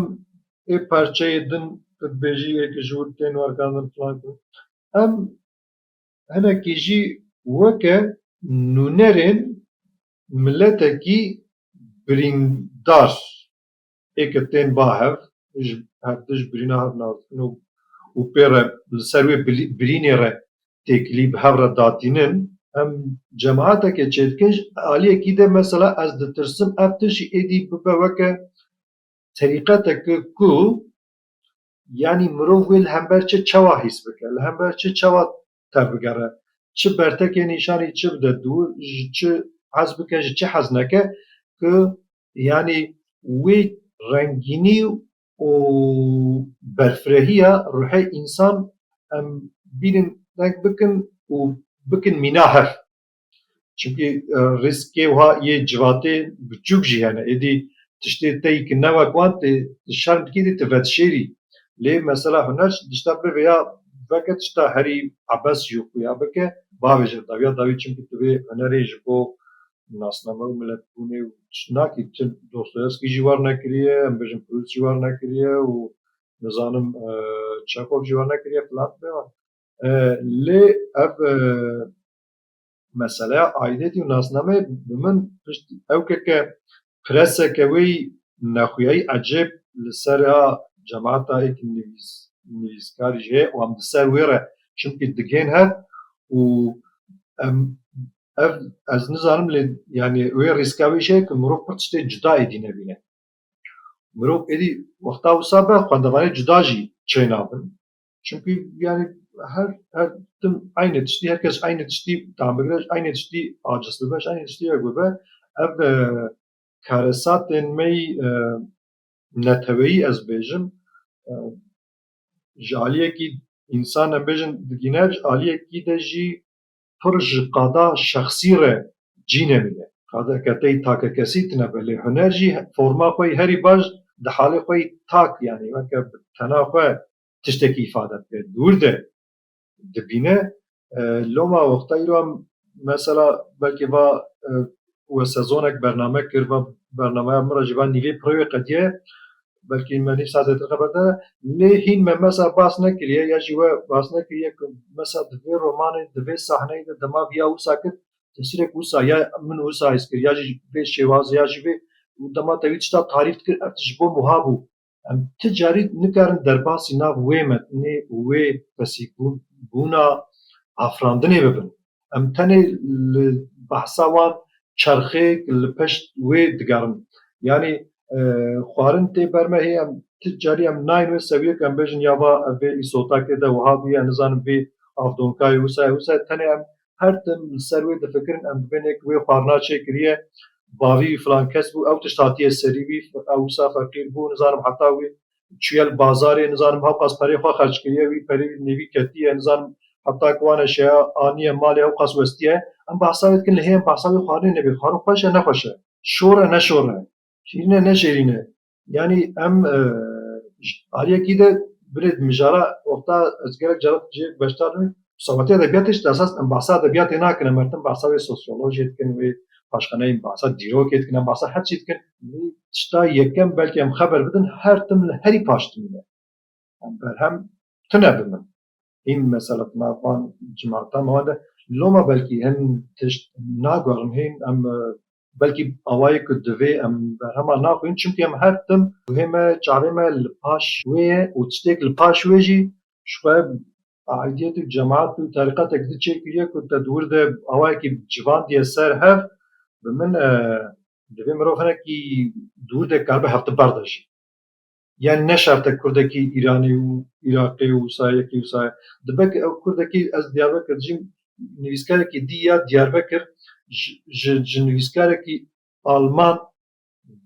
ê parçeyê din tu dibêjî ê ki ji wir tên wergandin filan kirin em hinekî jî weke nûnerên miletekî birîndar Ê ke tên ba hev, ji hev di ji birîna hev naskin û û pê re li ser wê birînê re têkilî bi hev re datînin. Em cemaeteke çêdikin ji aliyekî de mesela ez ditirsim ev tişt jî êdî bibe weke terîqeteke ku yanî mirov wê li hember çi çawa hîs bike, li hember çi çawa tevbigere. Çi bertekê nîşanî çi bide dû ji çi hez bike ji çi hez neke ku yanî wê rengînî û berfirehîya ruhê însan em bînin deng bikin û bikin mîna hev. Çimkî rîskê wiha yê civatê biçûk jî hene. Êdî tiştê tey ki ne wek wan tê tu şerm dikî êdî tu vedişêrî. Lê mesela huner çi tişta bivê ya veke tişta herî ebes jî xuya bike bavêje dawiya dawî çimkî tu vê hunerê ji bo nasname û miletbûnê û tişt nakî. Tu Dostoyevskî jî wernekiriye, em bijin Proust jî wernekiriye û nizanim Çekhov jî wernekiriye filan filan. Lê ev Meseleya aîdetî û nasnameyê bi min piştî ew ke ke preseke wê yî nexuyayî ecêb li ser a cemata yê ki nivîs nivîskarî jî heye û em di ser wê re çimkî digên hev û em ev ez nizanim lê yanî wê rîska wê jî heye ke mirov pir tiştê cuda êdî nebîne. Mirov êdî wexta wisa be xwendevanê cuda jî çêna bin. Çimkî yanî her her tim eynê tiştî her kes eynê tiştî tam bigire ji eynê tiştî aciz bibe ji eynê tiştî yek bibe ev e, karesatên me yî e, neteweyî ez bêjim e, ji aliyekî însan em bêjin digîne ji aliyekî de jî pir ji qada şexsî re cî nemîne. Qadeke tey takekesî tine be lê huner jî forma xwe yî herî baş di halê xwe yî tak yanî weke bi tena xwe tiştekî îfade bike di wir de dibîne. Loma wexta îro em mesela belkî va we sezonek bername kir va bernameya min re jî va nîvê pirewê qedîyaye Belkî me nîvsa zêtir xeber de lê hîn me mesa bas nekiriye ya jî we bas nekiriye ku mesa di vê romanê di vê sahneyê de dema viya wisa kir tesîrek wisa ya min wisa hîs kir ya jî vê şêwazê ya jî vê û dema te wî tişta tarîf dikir ev tişt ji bo wiha bû. Em ti carî nikarin derbasî nav wê metnê û wê fesîbûna afirandinê bibin. Em tenê li behsa wan çerxêk li pişt wê digerin. Yanî xwarin tê ber me hê em ti carî em nayên wê sewiyê ku em bêjin ya va ev vê îsotakê de wiha bûye ez nizanim vê avdonkayê wisa ye wisa ye tenê em her tim li ser wê difikirin em dibênê ku wê xwarina çê kiriye bavî filan kes bû ew tişt hatiye serî wî ew wisa feqîr bû nizanim heta wî çûye li bazarê nizanim hewqas perê xwe xerc kiriye wî perê nêvî ketiye nizanim heta ku wane şeya aniye malê hewqas westiye em behsa wê dikin lê hê em behsa wê xwarinê nebe xwarin xweş e ne xweş e şor e ne şor e şîrîn e ne şêrîn e yanî em ji aliyekî de binê mijara wexta ez gelek caran jê beşdar bim Sewatê edebiyatê jî esas em behsa edebiyatê nakin em her tim behsa wê sosyolojê dikin wê paşxaneyên behsa dîrokê dikin em behsa her çî dikin. Lê tişta yekem belkî em xeber bidin her tim li herî paş dimîne. Em berhem tune bi min hîn mesela di nav van cemata me wan de loma belkî hin tişt naguherin hîn em belkî awayê ku divê em berhema naxwînin çimkî em her tim guhê me çavê me li paş wê ye û tiştêk li paş wê jî ji xwe Aîdîyet û cemaet û terîqetek zî çêkiriye ku te di wir de awayekî civandiye ser hev. Bi min divê mirov hinekî di wir de karibe hevtiber de jî. Yan ne şert e kurdekî Îranî û Îraqî û wisa yekî wisa ye. Dibe ku ew kurdekî ez Diyarbekir dijîm nivîskarekî dî ya Diyarbekir ji ji nivîskarekî alman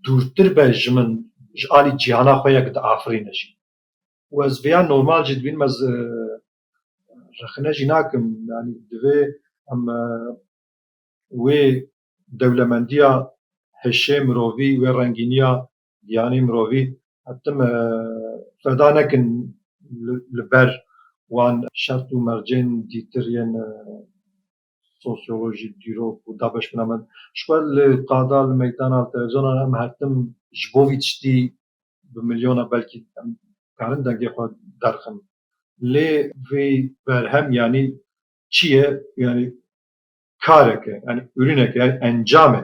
dûrtir be ji min ji alî cîhana xwe ya ku diafirîne jî. Û ez vêya normal jî dibînim, ez rexne jî nakim. Yanî divê em wê dewlemendiya hişê mirovî, wê rengîniya giyanê mirovî tim e feda nekin li ber wan şert û mercên dîtir yên sosyolojîk, dîrok û da beşbûna min. Ji xwe li qada li meydana li televîzyona re em her tim ji bo vî tiştî bi milyona belkî em karin dengê xwe derxin. Lê vê berhem yanî çi ye? Yanî karek e, yanî ûrînek e, yanî encam e.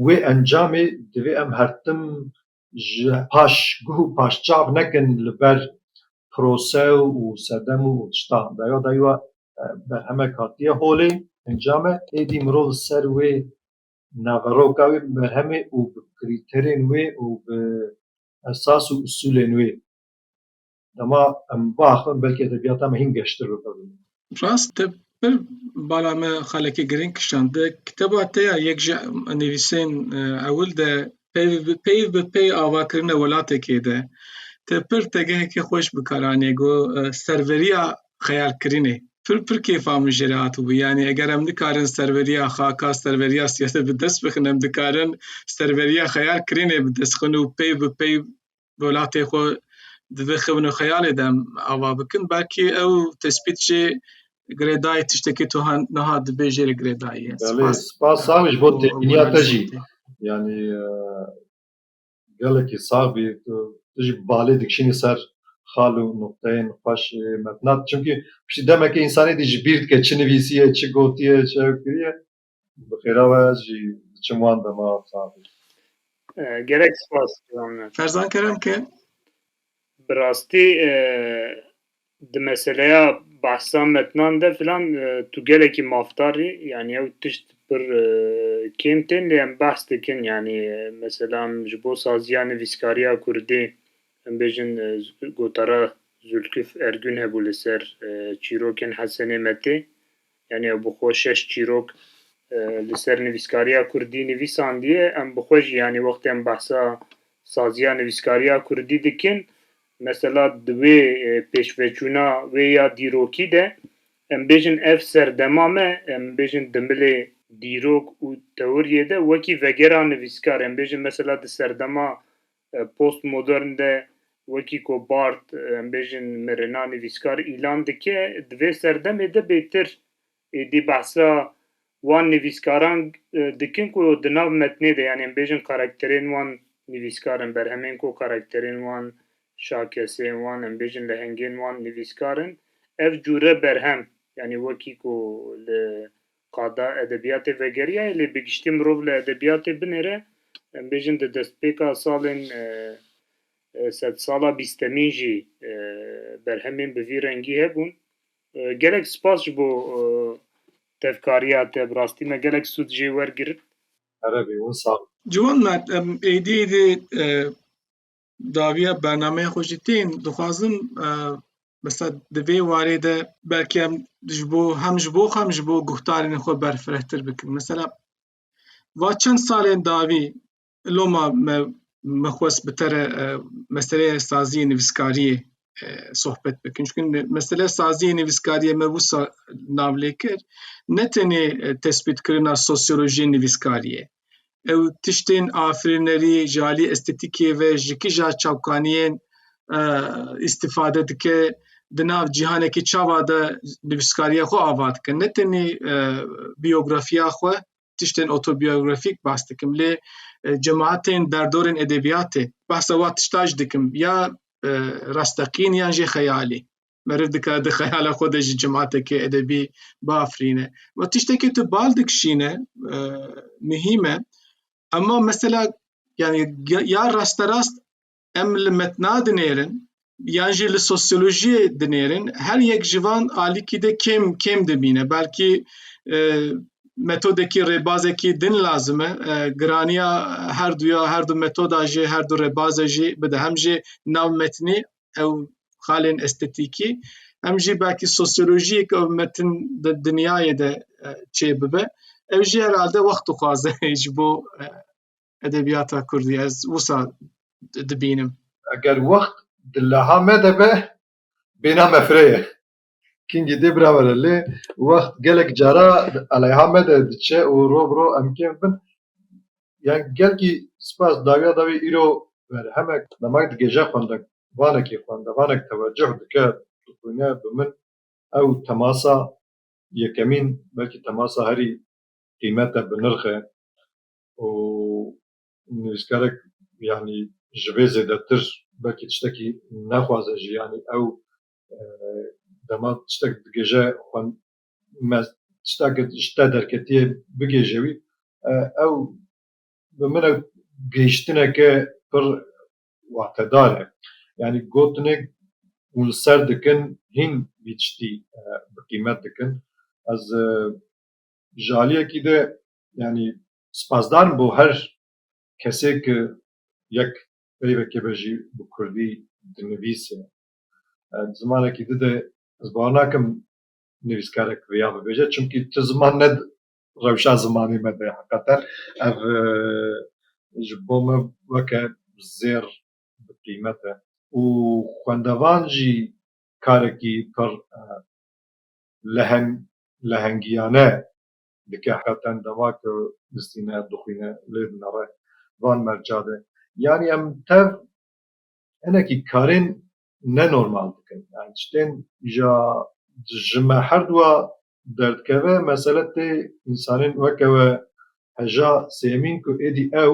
Wê encamê divê em her tim ji paş guh û paş çav nekin li ber prose û sedem û tiştan. Daya dayî we berhemek hatiye holê, encame êdî mirov li ser wê naveroka wê berhemê û bi krîterên wê û bi esas û usûlên wê dema em biaxivin belkî edebiyata me hîn geştir bi pir bimîne. Rast te pir bala me xelekê girîng kişande. Kiteba te ya yek ji nivîsên e, ewil de peyv bi peyv bi pey avakirine welatekê de te pir tegehekê xweş bi kar anîye go e, serveriya xeyalkirinê. Pir pir kêfa min jê re hatibû. Yanî eger em nikarin serveriya xaka, serveriya siyasê bi dest bixin em dikarin serveriya xeyalkirinê bi dest xin û peyv bi peyv welatê xwe divê xevin û xeyalê de em ava bikin belkî ew tespît jî girêdayî tiştekî tu niha dibê jê li girêdayî ye. Spas sax ji bo têbîniya te jî. Yanî gelekî sax bî tu jî balê dikişînî ser xal û nuqteyên xweş metnat. Çimkî piştî demekê însanê dî ji bîr dike çi nivîsiye, çi gotiye, çi ew kiriye. Bi xêra we ez jî diçim wan dema saxî. Gerek spas Cihan. Ferzan Kerem ke. Bi rastî di meseleya behsa metnan de filan tu gelekî mafdar î yanî ew tişt pir kêm tên lê em behs dikin yanî mesela em ji bo saziya nivîskariya kurdî em bêjin gotara Zûlkif Ergûn hebû li ser çîrokên Hesenê Metê Yanî ew bi xwe şeş çîrok li ser nivîskariya kurdî nivîsandiye. Em bi xwe jî yanî wextê em behsa saziya nivîskariya kurdî dikin, mesela di wê pêşveçûna wê ya dîrokî de em bêjin ev serdema me, em bêjin di milê dîrok û teoriyê de wekî vegera nivîskar, em bêjin mesela di serdema Postmodern de wekî ku Bart em bêjin mirina nivîskar îlan dike, di vê serdemê de bêtir êdî behsa wan nivîskaran dikin ku di nav metnê de yanî em bêjin karakterên wan nivîskar in, berhemên ku karakterên wan, şakesên wan em bêjin lehengên wan nivîskar in. Ev cûre berhem yanî wekî ku li Qada edebiyatê vegeriya ye lê bi giştî mirov li edebiyatê binêre em bêjin di destpêka salên sedsala bîstemîn jî berhemên bi vî rengî hebûn. Gelek spas ji bo tevkariya te bi rastî me gelek sûd jê wergirt. Erebî wisa. Ciwan me em êdî êdî dawiya bernameya xwe jî tên dixwazim mesela di vê warê de belkî em ji bo hem ji bo xwe hem ji bo guhdarên xwe berfirehtir bikin mesela va çend salên dawî loma me me xwest bi te re meseleyê saziyê nivîskariyê sohbet bikin çunke mesele saziyê nivîskariyê me wisa nav lê kir ne tenê tespîtkirina sosyolojiyê nivîskariyê Ew tiştên afirînerî ji alî estetîkê ve ji kija çavkaniyên îstîfade dike, di nav cîhanekî çava de nivîskariya xwe ava dike. Ne tenê biyografiya xwe, tiştên otobiyografîk bas dikim lê cemaetên derdorên edebiyatê behsa wan tişta jî dikim ya rasteqîn yan jê xeyalî. meriv dikare di xeyala xwe de ji cematekê edebî biafirîne. Ma tiştekê tu bal dikişîne e, muhîm e. Ema mesela yani ya rasterast em li metna dinêrin yan jî li sosyolojiyê dinêrin her yek ji van alîkî de kêm kêm dibîne. Belkî e, metodekî rêbazekî din lazim e giraniya her duya her du metoda jî her du rêbaze jî bide hem jî nav metnî ew xalên estetîkî em jî belkî sosyolojiyek ew metin di dinyayê de e, çê bibe ew jî herhalde wext dixwaze ji bo e, edebiyata Kurdî ez wisa dibînim. Eger wext di leha me de be bêna me fireye. Kingî dê birawere lê wext gelek cara aleyha me de diçe û rov rov em kêm bin ya gelkî spas dawiya dawî îro berhemek demek digeje xwende vanekî xwende vanek teweceh dike dixwîne bi min ew temasa yekemîn belkî temasa herî qîmet e bi nirx e û nivîskarek yanî ji vê zêdetir belkî tiştekî nexwaze jî yanî ew dema tiştek digêje xwe me tiştek ji te derketiye bigêje wî ew bi min ew gihiştineke pir watedar e yanî gotinê hûn li ser dikin hîn vî tiştî bi qîmet dikin ez ji aliyekî de yanî spasdar im bo her kesê ku yek peyvekê be jî bi kurdî dinivîse Di zimanekî di de ez bawer nakim nivîskarek vêya bibêje çimkî tu ziman ne rewşa zimanê me de heqeten ev ji bo me weke zêr bi qîmet e û xwendevan jî karekî pir leheng lehengiyane dike heqeten dema ku bistîne, dixwîne lê dinere van merca de. Yanî em tev hinekî karên ne normal dikin yan tiştên ja ji me herduwa derdikeve mesele tê însanên weke we heja sêmîn ku êdî ew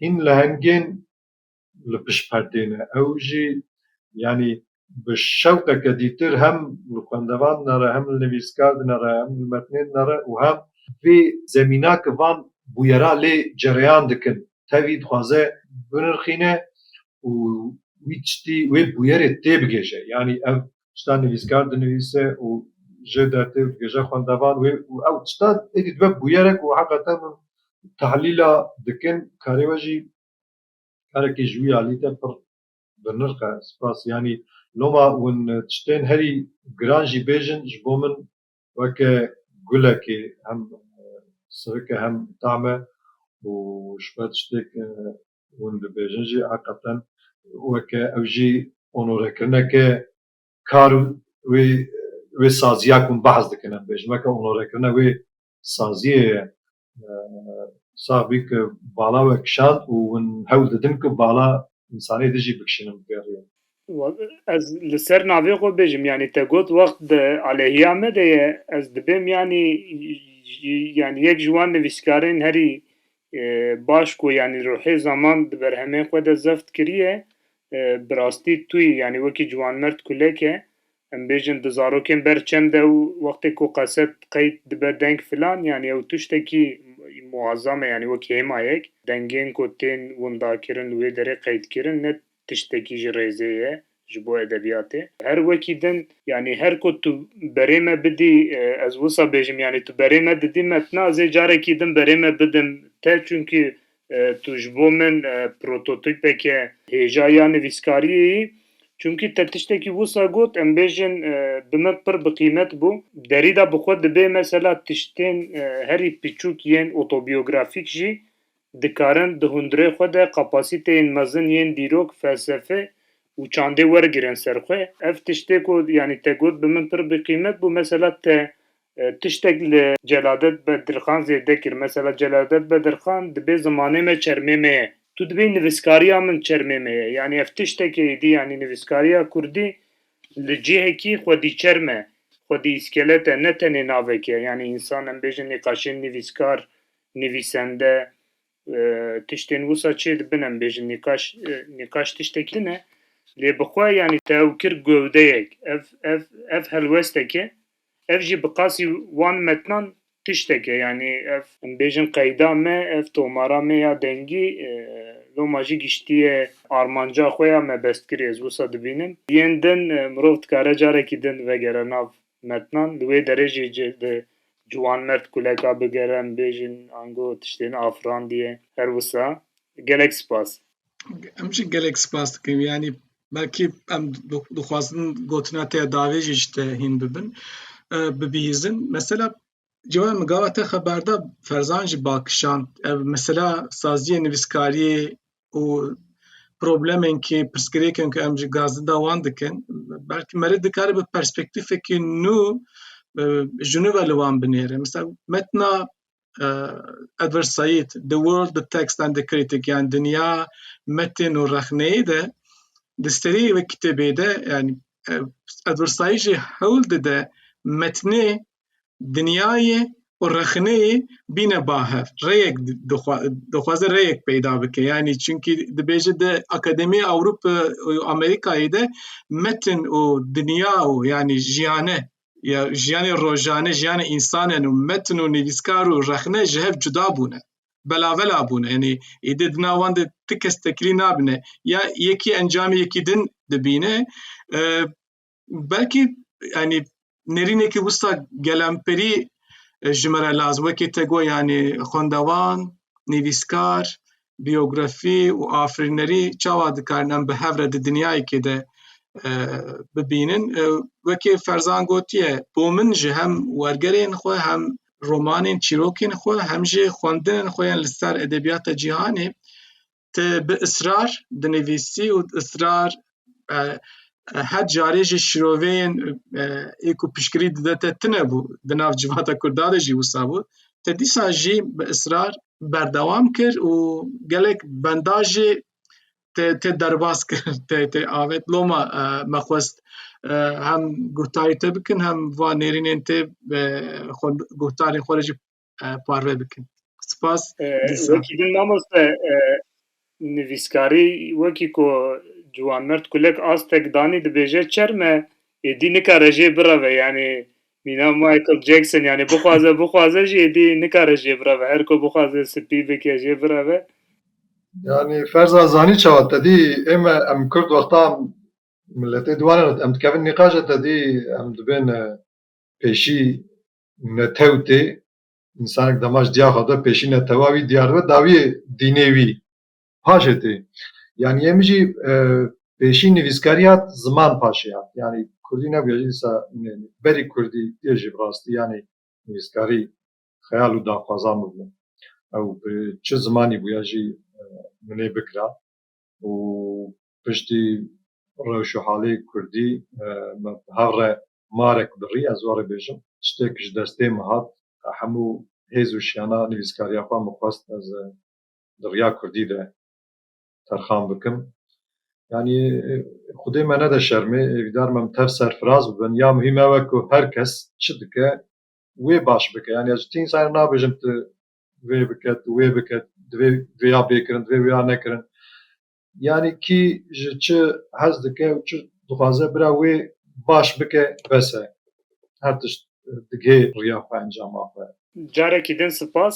hîn lehengên li pişt perdê ne ew jî yanî bi şewqeke dîtir hem li xwendevan de re hem li nivîskar din re hem li metnên de re û hem vê zemîna ki van bûyera lê cereyan dikin tevî dixwaze binirxîne û wî tiştî wê bûyerê têbigêje yanî ev tişta nivîskar dinivîse û ji dertê dibêje xwendevan wê û ew tişta êdî dibe bûyere ku heqete min tehlîla dikin karê we jî karekî ji wî alî te pir bi nirx e spas yanî loma hûn tiştên herî giran jî bêjin ji bo min weke gulekê hem sirik e hem tam e û ji ber tiştê ku hûn dibêjin jî heqeten weke ew jî onorekirneke kar û wê wê saziya ku hûn behs dikin em dibêjin weke onorekirina wê saziyê ye sax bî ku bala we kişand û hûn hewl didin ku bala însanê din jî bikişînin bi geriyê. Ez li ser navê xwe bêjim yanî te got wext di aleyhiya me de ye ez dibêm yanî yanî yek ji wan nivîskarên herî baş ku yanî ruhê zaman di berhemên xwe de zeft kiriye bi rastî tu yî yanî wekî ciwanmerd kulek e Em bêjin di zarokên ber çem de û wextê ku qeset qeyt dibe deng filan yanî ew tiştekî muazzam e yanî wek hêmayek dengên ku tên windakirin li wê derê qeydkirin ne tiştekî ji rêzê ye ji bo edebiyatê. Her wekî din yanî her ku tu berê me bidî ez wisa bêjim yanî tu berê me didî metna ez ê carekî din berê me bidim te çunkî Tu ji bo min prototîpeke hêja ya nivîskariyê yî, çimkî te tiştekî wisa got em bêjin bi min pir bi qîmet bû. Derî de bi xwe dibê mesela tiştên herî piçûk yên otobiyografîk jî dikarin di hundirê xwe de kapasîteyên mezin yên dîrok, felsefe û çandê wergirin ser xwe. Ev tiştê ku yanî te got bi min pir bi qîmet bû, mesela te Tiştek li Celadet Bedirxan zêde kir. Mesela Celadet Bedirxan dibê zimanê me çermê me ye. Tu dibê nivîskariya min çermê me ye. Yanî ev tiştekê êdî yanî nivîskariya kurdî li cihekî xwedî çerm e, xwedî îskelet e ne tenê navek e. Yanî însan em bêjin nîqaşên nivîskar, nivîsende tiştên wisa çê dibin em bêjin nîqaş nîqaş tiştekî din e. Lê bi xwe yanî te ew kir gewdeyek. Ev ev ev helwesteke. Ev jî bi qasî wan metnan tiştek e, yanî ev em bêjin qeyda me, ev tomara me ya dengî loma jî giştiye armanca xwe ya mebestkirî. Ez wisa dibînim yên din mirov dikare carekî din vegere nav metnan, li wê derê jî di ciwanmerd kuleka bigere em bêjin ango tiştên afirandiye. Her wisa gelek spas. Em jî gelek spas dikim yanî belkî em dixwazin gotina te davê jî ji te hîn bibin bibihîzin mesela ciwan min gava te xeber da ferzan jî bakişan ev mesela saziyê nivîskariyê û problemên kê pirsgirêkên ku em ji gazdinda wan dikin belkî merê dikare bi perspektîfekî nû ji nû ve li wan binêre mesela metna Edward Said The World, The Text and the Critic yani Dünya, Metin û Rexneyi de di serî wê kitêbê de yani Edward Said jî hewl dide metnê dinyayê û rexneyê bîne bahev rêyek dixwaze rêyek peyda bike yani çunkî dibêje de Akademî Ewropa û Amerîkayê de metin û dinya û yani jiyane ya jiyanê rojane jiyanê însanen û metin û nivîskar û rexne ji hev cuda bûne belavela bûne yanî êdî di nav wan de ti kes tekilî nabine ya yekî encamê yekî din dibîne belkî yanî nêrînekî wisa gelemperî ji me re lazim wekî te got yanî xwendevan nivîskar biyografî û afirînerî çawa dikarin em bi hev re di dinyayekê de bibînin. Wekî Ferzan gotiye bo min ji hem wergerên xwe hem romanên çîrokên xwe hem jî xwendinên xwe yên li ser edebiyata cîhanê te bi israr dinivîsî û israr her carê jî şiroveyên ê ku piştgirî dide te tune bû di nav civata Kurda de jî wisa bû te dîsa jî bi israr berdewam kir û gelek benda jî te te derbas kir te te avet loma me xwest hem guhtarî te bikin hem va nêrînên te xwe guhtarên xwe jî parve bikin. Spas. Wekî din mamoste nivîskarî wekî ku Ciwan Mert Kulek astek danî dibêje çerme êdî nikare jê bireve yanî mîna Michael Jackson yanî bixwaze bixwaze jî êdî nikare jê bireve her ku bixwaze spî bike jê bireve yanî ferza zanî çawa te dî ême em kurd wextan milletê diwanê em dikevin nîqaje te dî em dibên pêşî netewtê, însanek dema ji diya xwe de pêşî netewa wî diyar dibe, dawiyê dînê wî paşê tê. Yanî yê min jî pêşî nivîskarî hat, ziman paşê hat. Yanî kurdî nebûye jî dîsa berî kurdî yê jî bi rastî yanî nivîskarî xeyal û daxwaza min bû. Ew bi çi zimanî bûye jî min ê bikira û piştî rewş û halê kurdî min bi hev re Marek birî ez warê bêjim tiştêk ji destê min hat hemû hêz û şiyana nivîskariya xwe min xwest ez di riya kurdî de terxan bikim yanî xwedê me nede şermê hêvîdar me min tev serfiraz bibin ya muhîm ew e ku her kes çi dike wê baş bike yanî ez ji ti însan re nabêjim tu vê bike tu wê bike divê vêya bêkirin divê wêya nekirin Yanî kî ji çi hez dike û çi dixwaze bira wê baş bike bes e. Her tişt digihê riya xwe encama xwe. Carekî din sipas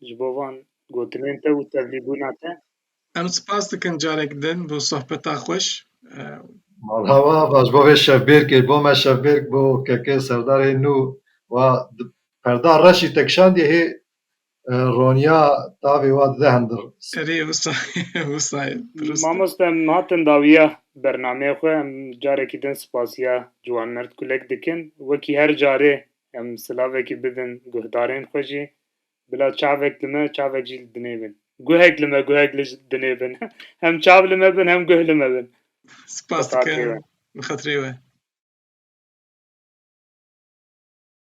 ji bo van gotinên te û tevlîbûna te. Em sipas dikin carek din bo sohbeta xweş. Mala we ava ji bo vê şevbêrkê bo me şevbêrk bo keke serdarê nû wa di perda reşî te kişandiye hê Roniya tavê wa dide hindir. Erê wisa wisa ye durust e. Mamoste em hatin dawiya bernameyê xwe em carekî din spasiya Ciwanmerd Kulek dikin. Wekî her carê em silavekî bidin guhdarên xwe jî. Bila çavek li me çavek jî li dinê bin. Guhek li me guhek li dinê bin. Hem çav li me bin hem guh li me bin. Spas dikim bi xatirê we.